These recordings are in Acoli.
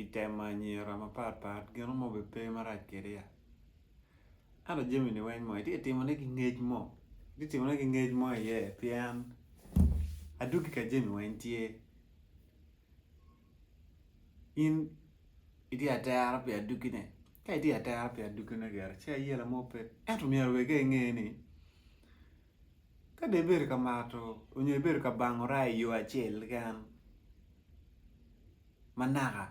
i temo anyira mapat pat gino mo bene pe marac kedi ya ento jami ni weng mo itye timo ne ki ngec mo itye timo ne ki ngec mo iye pien adwogi ka jami weng tye in itye atera pi adwogi ne ka itye atera pi adwogi ne gire ci ayela mo pe ento myero wek inge ni Ka dong ibedo ka mato nyo ibedo ka bango raa i yo acel keken ma naka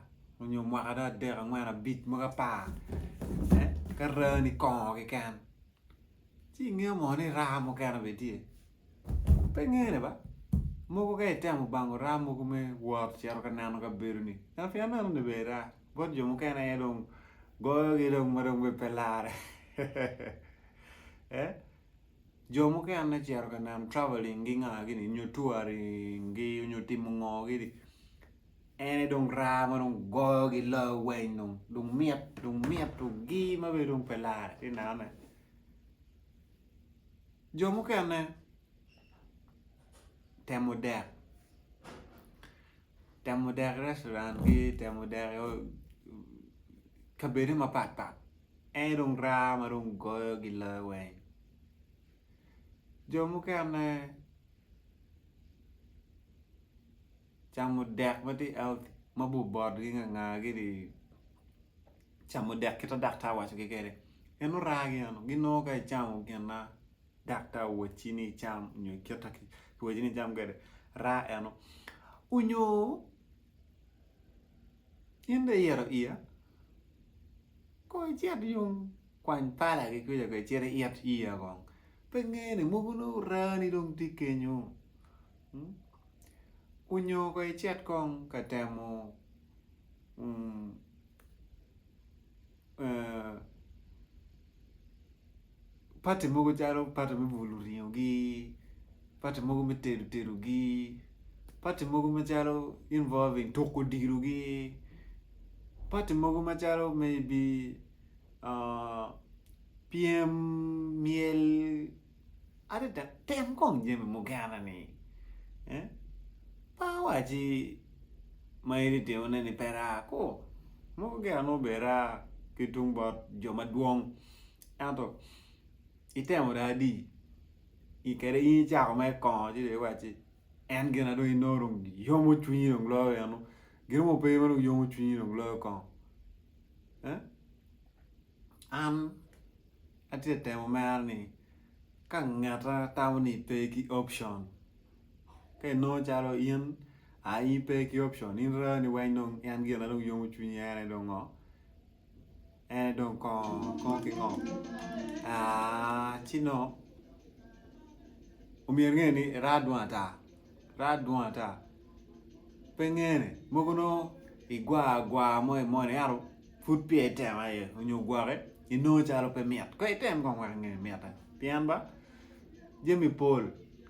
nyo mwaka dong adek angwen abic mogo apar ka raa ni kongo keken ci ingeyo mo ni raa mukene bene tye pe ngene ba mogo ka itemo bango raa mogo me wot cito ka neno kabedo ni ngat pien aneno ni bene raa bot jo mukene aye dong goyo gi dong ma dong bene pe lare. Jo mukene cito ka neno travelling gi nga gini nyo touring gi nyo timo ngo gini ene dong raa ma dong goyo gi loyo weng dong dong mit dong mit dong gi ma bene dong pe lar i neno ne jo mukene temo dek temo dek restaurant gi temo dek kabede mapat pat En dong raa ma dong goyo gi loyo weng. Jo mukene camo dek ma tye healthy ma bor botgi nga nga gini camo dek kit ma daktar wacogi kwede. En oraa gi eno. Ginongo ka icamo gin ma daktar owacci ni icam nyo kit ma kiwacci ni icam kwede, raa eno. Onyo In dong iyito iya? Kong icit yung kwany palagi kwica kong icit iyit iya kong. Pe ingeyo ni mogo nongo orani dong tye kenyo? Onyo kong icit kong ka temo pati mogo calo pati me bulo ringo gi pati mogo me tedo tedo gi pati mogo macalo involving tuko odilo gi pati mogo macalo maybe pyem myel Adada tem kong jami mukene ni pe awaci ma in itimone ni pe raa ko. Mogo gire nongo bene raa ki tung bot jo madwong ento itemo dong adi kede in icako mere kongo ci dong iwacci en gina dong inongo dong yomo cwinyi dong loyo eno gin mo pe ma dong yomo cwinyi dong loyo kong. An atye ka temo mero ni ka ngeta tamo ni pe ki option ka inongo calo in aye in pe ki option in reo ni weng dong en gin ma dong yomo cwinyi en aye dong ngo en aye dong kongo kongo ki ngo ci nongo omyero inge ni irar dwong ata. Raa adwong ata. Pe ngene, mogo nongo igwar agwar mo i moni ento pud peya itemo aye onyo gwoki inongo calo pe mit. Kono item kong wek inge ni mitte pien ba jami pol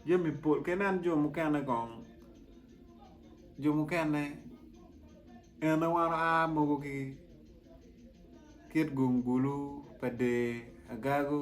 jami pol ka inen jo mukene kong jo mukene en aye wan oa mogo ki kit gungulu pa dee, agagu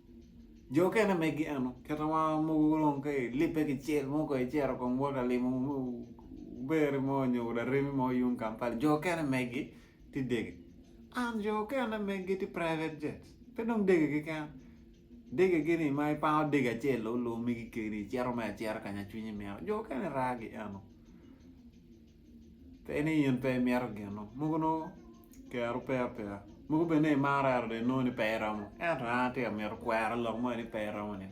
Jo okene megi eno kit ma mogo dong ka ilibbe kicel mo ka icito kong wot ka limo beri mo nyo laremi mo yung Kampala jo okene megi ti dege and jo okene megi ti private jet pe dong dege keken degegi ni ma ipango dege acel loyo loyo megi keni icito me acita ka nya cwinyi mito jo okene raa gi eno pe ni in pe imito gino mogo nongo kero pe apeya mogo bed ni imare adada inongo ni pe iromo ento an atye ka mito kwero lok moni ni pe iromo ni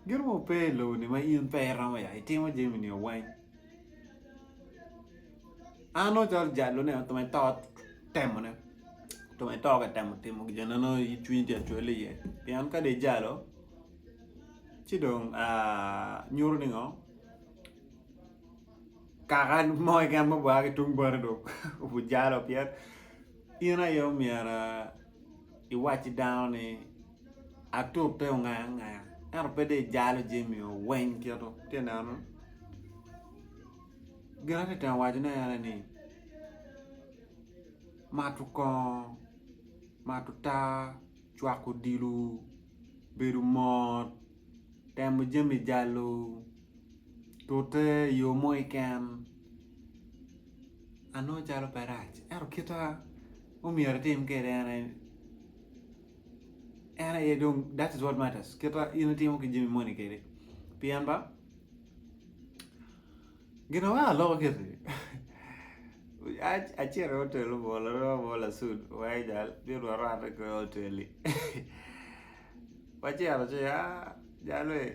gin mogo pe i lobo ni ma in pe iromo ya itimo jami ni weng an nongo calo jalo ne me to temo ne me to ka temo timo gin ma nongo cwinyi tye ka cwale iye pien ka dong ijalo ci dong nyuto ni ngo Kaka mo keken ma ogwar ki tung bote dong obi jalo pien in aye omyero iwac ki dano ni atute ongaya angaya ento pe dong ijalo jami oweng kito itye ka neno. Gin atye ka temo wacone en aye ni mato kongo, mato taa, cwako odilo, bedo mot. temo jami jalo tute i yo mo keken anongo calo pe rac ento kita ma myero itim kwede en aye en aye dong that is what matters kita in itimo ki jami moni kwede pien ba gin ma weko aloko kiti acito i otel obwolo lasudu weko jal bino rwate kong i otel-li. Macito ci a jalo i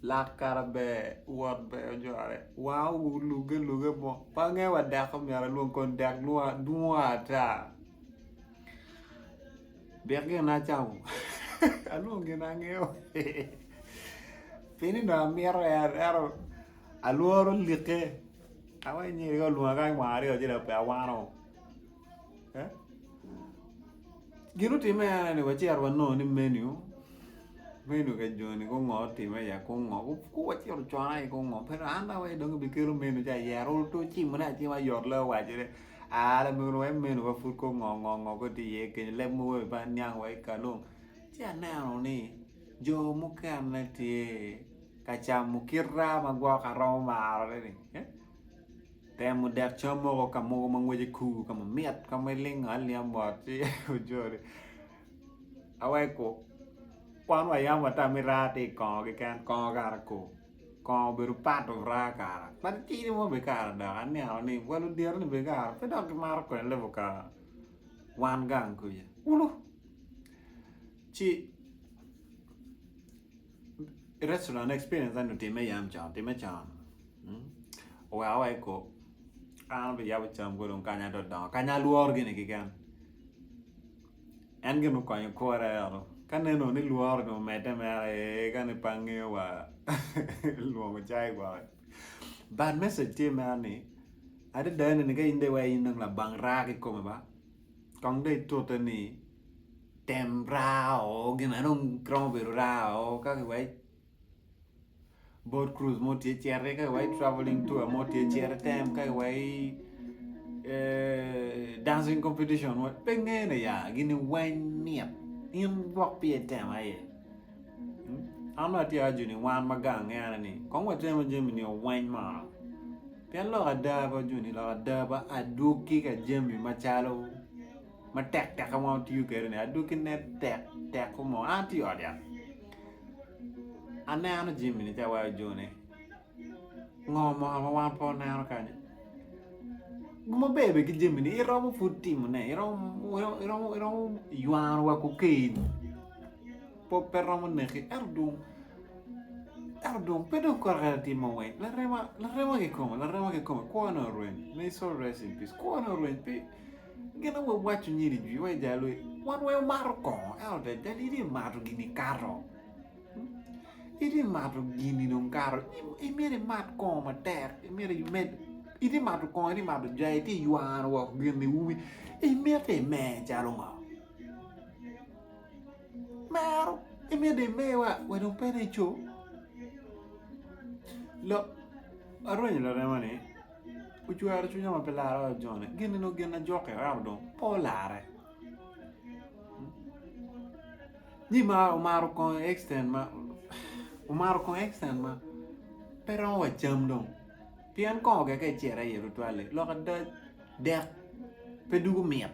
lak kara ber wot ber ojore wanga olugge alugga mo pe angeyo wa dek ma myero alwong kong dek dwong ata dek gin ma acamo alwong gin ma angeyo pien ni dong amito en ento alworo like awai nyenika olwonga kany wang aryo ci dong pe awano. eh? gin otime ena ni wacito wanongo ni menu menu ka joni gungo otime ya kungo ku wacito ocona i kungo pero an dong awaci dong bikelo menu ca yero to cimone acima yot la wacone a lamego wai menu wa pud ko ngo ngo ngo ko tye iye kenyo leb mogo i bang niang wa i kalum ci aneno ni jo mukene tye ka camo kita ma gwok aromo marone ni eh? Temo dek cam moko ka mogo ma ngwece kur ka mamit ka ma ilingo alinga mot ci ojolo aweko wan wayam ata me raa tye i kongo keken kongo kara kur kongo obedo part of raa kara kadi tidi mo bene kara dok aneno ni wa ludyere ni bene kara pe dok gimato kwena level kara wan gang kuca ulu ci Restaurant experience enu time yam con, time con. Hmm? Oweka wa eko, an be yabo cam ko dong kanya do dongo, kanya lworo gini kiken. En gin okonyo kora eno, ka neno ni lworo ni omedde mera, ee, ka ni pange wa, lwongo cai gwoko. But message tye mera ni, adada ene ni ka in de iwaci in dong labang raa ki kome ba, Kong dong itute ni tem raa o gin ma dong giromo bedo raa o ka giwaci boat cruise mo tye citi ka giwaci travelling tour mo tye citi tem ka giwaci eh, dancing competition mo pe ngene ya gini weng mit in gwok pi itemo aye An bene atye ajo ni wan ma gang ngene ni kong watemo jami ni oweny mono pien lok ada pe waco ni lok ada pe adwogi ka jami macalo ma tek teke ma watiyo kwede ni adwogi ne tek tek mo an atye i ot yat aneno jami ni ci awaco jo ni Ngo moka ma wan pe waneno kany? Gin maber bene ki jamini iromo pud timone iromo ywano wa kokain pud pe romo neki ento dong ento dong pe dong kore kore tye ma weng larema larema kikome larema kikome kwone oreny may soul rest in peace kwone oreny pe gin aye wawaco nyeni jwi wa ijalo wan weng wumato kongo ento tek jalo in iye imato gin ikato. Itye ka mato gin-ni dong kato imyero imat kongo matek imyero imed itye ka mato kongo itye ka mato jai itye ka ywano woko gin-ni umi imiti imer calo ngo? Mero imyero dong imer wa wek dong pe nico lok arwenyo laremani ocwero cwinya ma pe lara wa joni gin-ni dong gin na jokke ento dong pe olare. Ni mar omaro kongo extent ma omaro kongo extent ma pe romo wa cam dong pien kongo keken icito aye tutwale lok ada dek pe dugo mit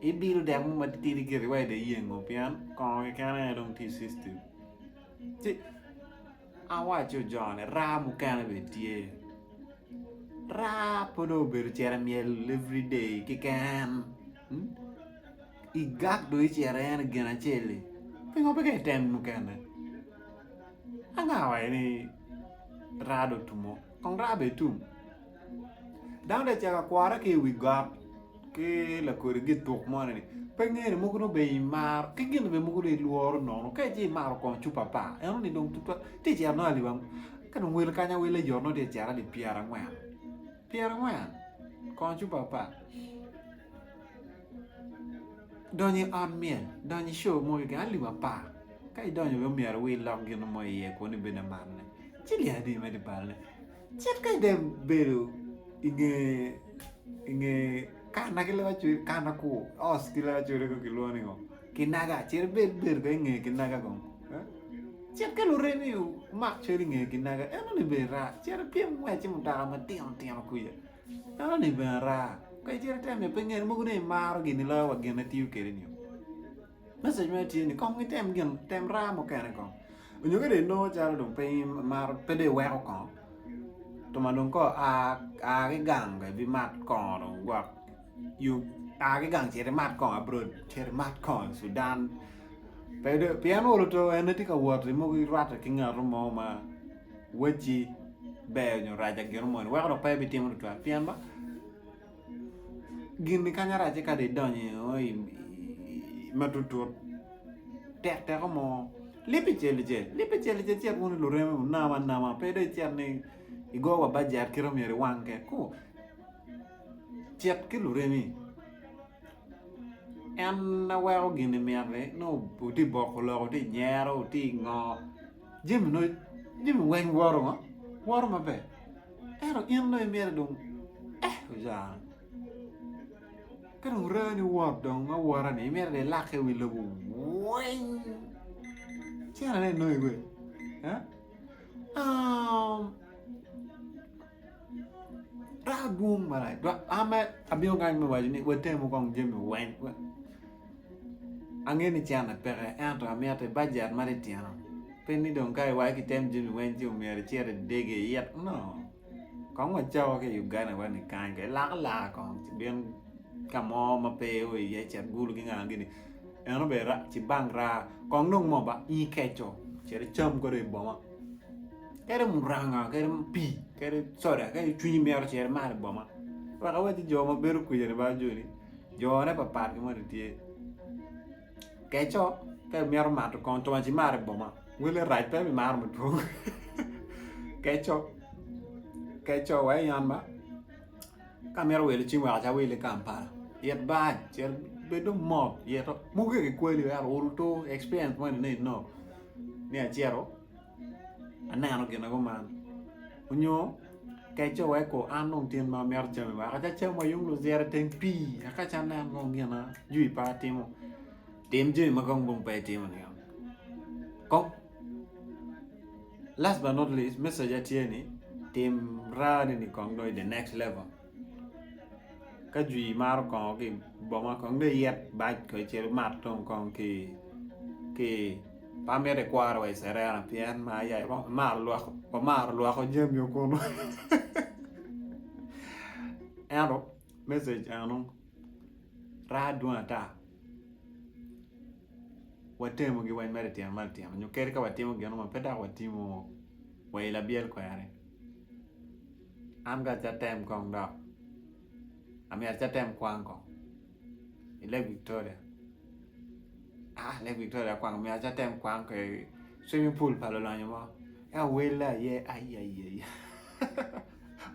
ibido dek mo matitidi gire wa ida iyengo pien kongo keken aye dong tye system ci awaco joni raa mukene bene tye raa pe dong obedo cere myel everyday keken. I gang dong icito en i gin acel-li pingo pe ka item mukene anga wa ni raa dong otum oo kong raa bene tum dano dong ocito ka kwore ki i wi got ki lakodi gituk moni ni pe ngeyo ni mogo dong obedo imaro ki gin bene mogo dong ilworo nono ka ici imaro kong cup apar eno ni dong tutwal ti cito nongo aliwa ka dong wel kanya wel aye nongo ti cito ali pyerangwen pyerangwen kong cup apar Donyo i ot myel, donyo i show mo keken alip apar ka idonyo bene myero wi ilok gin mo iye kono ibed lamarne ci lyel adi ma idye balone cit ka idye bedo inge kana ki lewa cwec kana kur os ki lewa cwec kong kilwongo ni ngo kinaga cit ibed bedo kong inge kinaga kong cit ka luremi omak cwec inge kinaga enoni bene rac cit ipyem ngwec ki mutoka matino tino kwica Enoni bene araa, ka icito iter miyo pe ngene mogo ni imaro gini loyo wa gin ma itiyo kwede ni. Message mene tye ni kong item gin tem raa mukene kong nyo ka dong inongo calo dong pe imaro pe dong iweko kong tuma dong kong a ki gang dong ibimat kong dong gwok yub a ki gang cit imat kong abroad cit imat kong i Sudan pe dong pien olo to en aye tye ka wot mogo irwatte ki ngato mo ma Wacci ber nyo raca gino moni weko dok pe ibitimo tutwal pien ba gin-ni kany aracce ka dong idonyo i o i matutut tekteko mo libbi celicel libbi celicel cit wunu i lureme wunam anama pe dong icit ni igo wa bajet kit ma myero iwang kwede ku cit ki luremi en na weko gin-ni mitte nongo wuti boko lok wuti nyero wuti ngo jami nongo jami weng woto ngo woto maber ento in dong imyero dong eh ojara ka dong rani wot dong awota ni imyero dong ilake i wi lobo weng cene ne inongo iweng Dok adwong malac dok an mere abino kany me waco ni watemu kong jami weng angeyo ni cente peke ento amyero bajet ma titino pe ni dong ka iwaco ni kitem jami weng ci myero icit idege it no kong wacako ki i Uganda wa ni kany kong ilak alaka kong ci ibin ka mo ma pe i oo iye cet gulu ki nga gini eno bene raa ci bank raa kong dong moo ba nyi keco cit icam kadi i boma. kadi muranga kadi pii kadi coda kadi cwinyi mito cito imadh i boma wek awac ni jo ma bedo kwija ni baa joni jone pat pat ki moni tye keco ka imito mato kong twongo ci imar i boma wele rac pe bimaro madwong keco keco wa i ot ma ka imito wilo cim weko ci awil i Kampala it bar cit bed dong mot ito muke kikweli weko uru tur experience moni nongo inongo ni acito aneno gin na kuman onyo ka ice weko an dong tin ma amito cami weko aca cam wa yung luzira i teng pii aka aca anen kong gin ma jwi pa timo tim jami ma kong dong pe itimo ni yam kong last but not least message na tye ni tim raa ni kong dong i the next level. Ka jwi maro kongo ki i boma kong nongo iyit bac kong icel imat tung kong ki ki pe amito ikwora wa i Cerena pien mar aye wamaro lwak wamaro lwoko jamio kunu ento message eno raa dwong ata watemu gi weny ma litino ma litino nyo kadi ka watimo gino ma pe dok watimo wa i labyel kwene An ka atye atem kong dok amyero atye atem kwang kong i lake Victoria aa lake Victoria kwang omyero atye atem kwang ki swimming pool pa lulonyo mo eka welle aye aiyaiya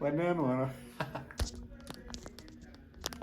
wanen wunu